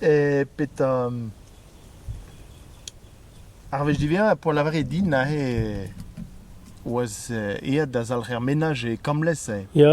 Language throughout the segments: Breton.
E petra... Ar wech diwezhañ poan lavaret din aze e oas aet da zalc'her menaj e Kamlez. Ya.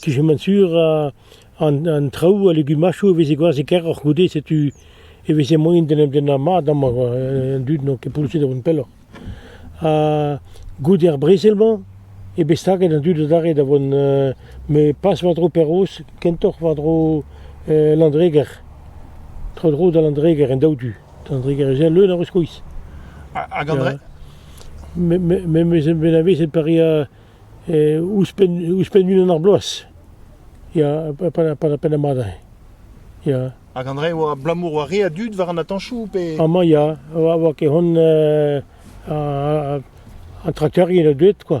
Kisamant sur an traoù, al legumadoù a veze gwazh e-keroc'h goude, setu e veze moaien d'en em dennañ mat amañ an dud n'ont ket pourzhet da vont pelloc'h. Ha goude ar brezel-mañ eo bet staget an dud adarre da vont met pas war-dro Perroz, kentoc'h war-dro Landreger, tro-dro da Landreger, en daou du. An drugarez-se leun a ruskois. Hag an dre Me, me, me, me zen bet avezet pa rea eh, ouzhpenn, ouzhpenn unan ar bloaz. Ya, pa, pa, pa, pa, mad Ya. Hag André, oa abalamour oa re a dud war an atañchou pe... Amañ, ya. Oa, oa ket hon... Uh, un trakteur yen a deuet, quoi.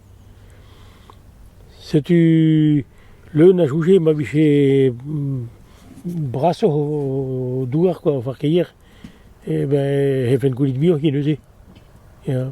Setu leun a soñje ma vije brasoc'h o douar kwa o farkeier e ben e c'hellfent gounit muioc'h ket neuze ya.